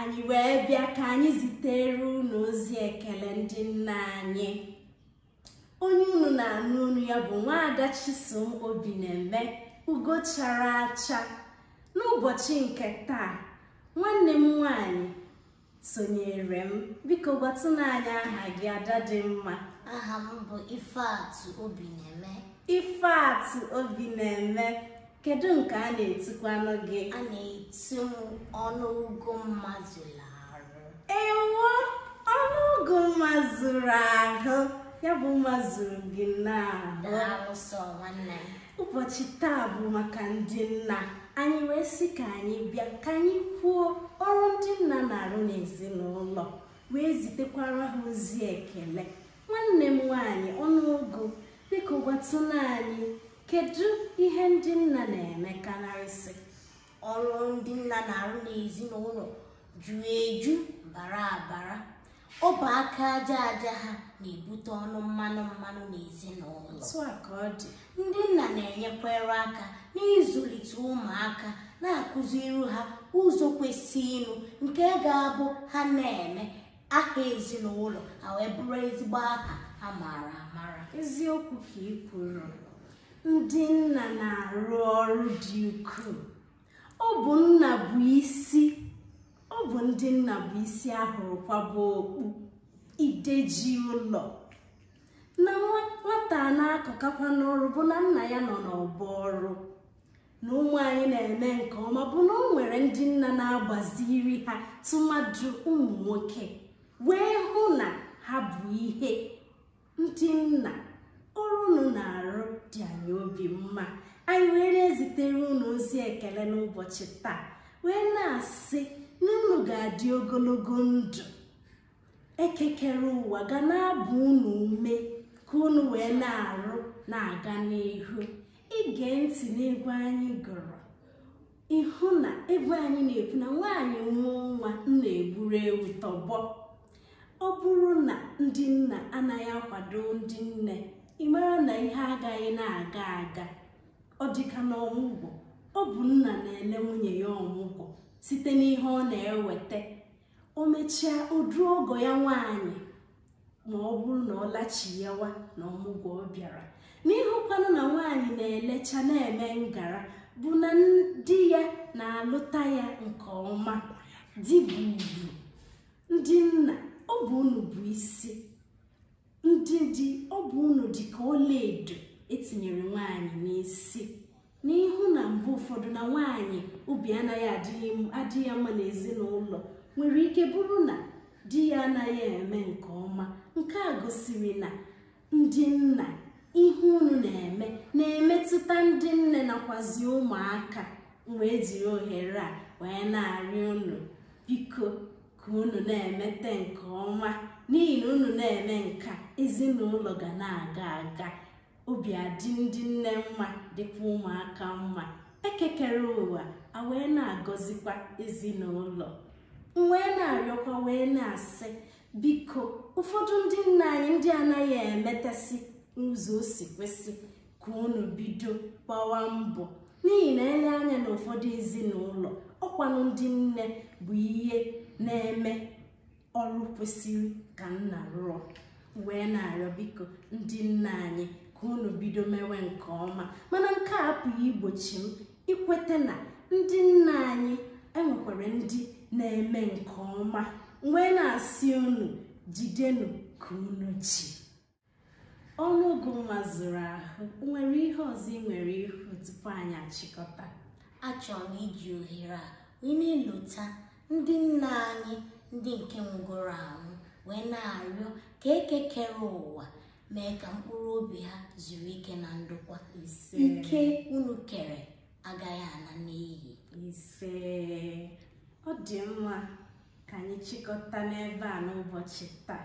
anyị wee bịa ka anyị zitere unu ozi ekele ndị nna anyị onye unu na-anụ olu ya bụ nwaada Chisom Obi na-eme ugo chara acha n'ụbọchị nke taa nwanne m nwanyị sonyere m biko gwatụnụ anyị aha gị ada dị mma aha m bụ Ifeatụ Obi na-eme Ifeatụ Obi na-eme kedu nke a na-etukwanụ gị a na-etu m ọnụ ugo mma zulu arụ ewo ọnụ ugo mma zuru ahụ ya bụ mma zuru gị n'ahụ daalụ sọ nwanne m ụbọchị taa bụ maka ndị nna anyị wee sị ka anyị bịa ka anyị kwuo ọrụ ndị nna na-arụ n'ezinụlọ wee zitekwara ha ozi ekele nwanne m nwaanyị ọnụ ugo biko gwatụnụ anyị kedu ihe ndị nna na-eme karịsị ọrụ ndị nna na-arụ n'ezinụlọ juru eju bara abara ọ bụ aka aja aja ha na-ebute ọnụ mmanụ mmanụ n'ezinụlọ otu a ka ọ dị ndị nna na-enyekwara aka n'ịzụlite ụmụaka na-akụziri ha ụzọ kwesịrịnụ nke ga-abụ ha na-eme aha ezinụlọ ha wee bụrụ ezigbo aha a maara amara eziokwu ka ị kwuru ndị nna na-arụ ọrụ dị ukwuu ọ bụ nna bụ isi ọ bụ ndị nna bụ isi a hụrụ kwaba okpu ide ji ụlọ na nwata na-akọkakwa n'ọrụ bụ na nna ya nọ n'ọgbọ ọrụ na ụmụ anyị na-eme nke ọma bụ na o nwere ndị nna na-agbaziri ha tụmadụ ụmụ nwoke wee hụ na ha bụ ihe ndị nna ọrụ unu na-arụ dị anyị obi mma anyị wee na-ezitere unu ozi ekele n'ụbọchị taa wee na-asị na unu ga-adị ogologo ndụ Eke kere ụwa ga na-agba unu ume ka unu wee na-arụ na-aga n'ihu i gee ntị n'egwu anyị gụrụ ị hụ na egwu anyị na-ekwu na nwaanyị mụọ nwa nna egburu ewu tọgbọ ọ bụrụ na ndị nna anaghị akwado ndị nne ị mara na ihe agaghị na-aga aga ọ dịka na ọmụgwọ ọ bụ nna na-ele nwunye ya ọmụgwọ site n'ihe ọ na-eweta o mechaa o duo ọgọ ya nwaanyị ma ọ bụrụ na ọ lachiyawa n'ọmụgwọ ọ bịara na ị hụkwanụ na nwaanyị na-elecha na-eme ngara bụ na di ya na-alụta ya nke ọma di bụ ugwu ndị nna ọ bụ unu bụ isi ndị di ọ bụ unu dị ka ọlaedo etinyere nwaanyị n'isi n'ihi na mgbe ụfọdụ na nwaanyị obi anaghị adị ya mma n'ezinụlọ nwere ike bụrụ na di ya anaghị eme nke ọma nke a gosiri na ndị nna ihe unu na-eme na-emetụta ndị nne nakwazi ụmụaka m wee jiri ohere a wee na-arịọ unu biko ka unu na-emete nke ọma n'ihi na unu na-eme nke a ezinụlọ ga na-aga aga obi adị ndị nne mma dịkwa ụmụaka mma eke kere ụwa a wee na-agọzikwa ezinụlọ m wee na-arịọkwa wee na-asị biko ụfọdụ ndị nna anyị ndị anaghị emetesị n'ụzọ o si kwesị ka unu bido gbawa mbọ n'ihi na e lee anya n'ụfọdụ ezinụlọ ọ kwanụ ndị nne bụ ihe na-eme ọrụ kwesịrị ka nna rụọ wee na-arịọ biko ndị nna anyị ka unu bido mewe nke ọma mana nke a apụghị igbochi m ikweta na ndị nna anyị e nwekwara ndị na-eme nke ọma wee na-asị unu jidenụ ka unu ji ọnụọgụ mma zuru ahụ nwere ihe ọzọ i nwere ikwu tupu anyị achịkọta achọrọ m iji ohere a wee na-elota ndị nna anyị ndị nke nwụgoro anwụ wee na-arịọ ka eke kere ụwa mee ka mkpụrụ obi ha zuru ike na ndokwa ise ike unu kere agaghị ala n'iyi ise ọ dị mma ka anyị chịkọta n'ebe a n'ụbọchị taa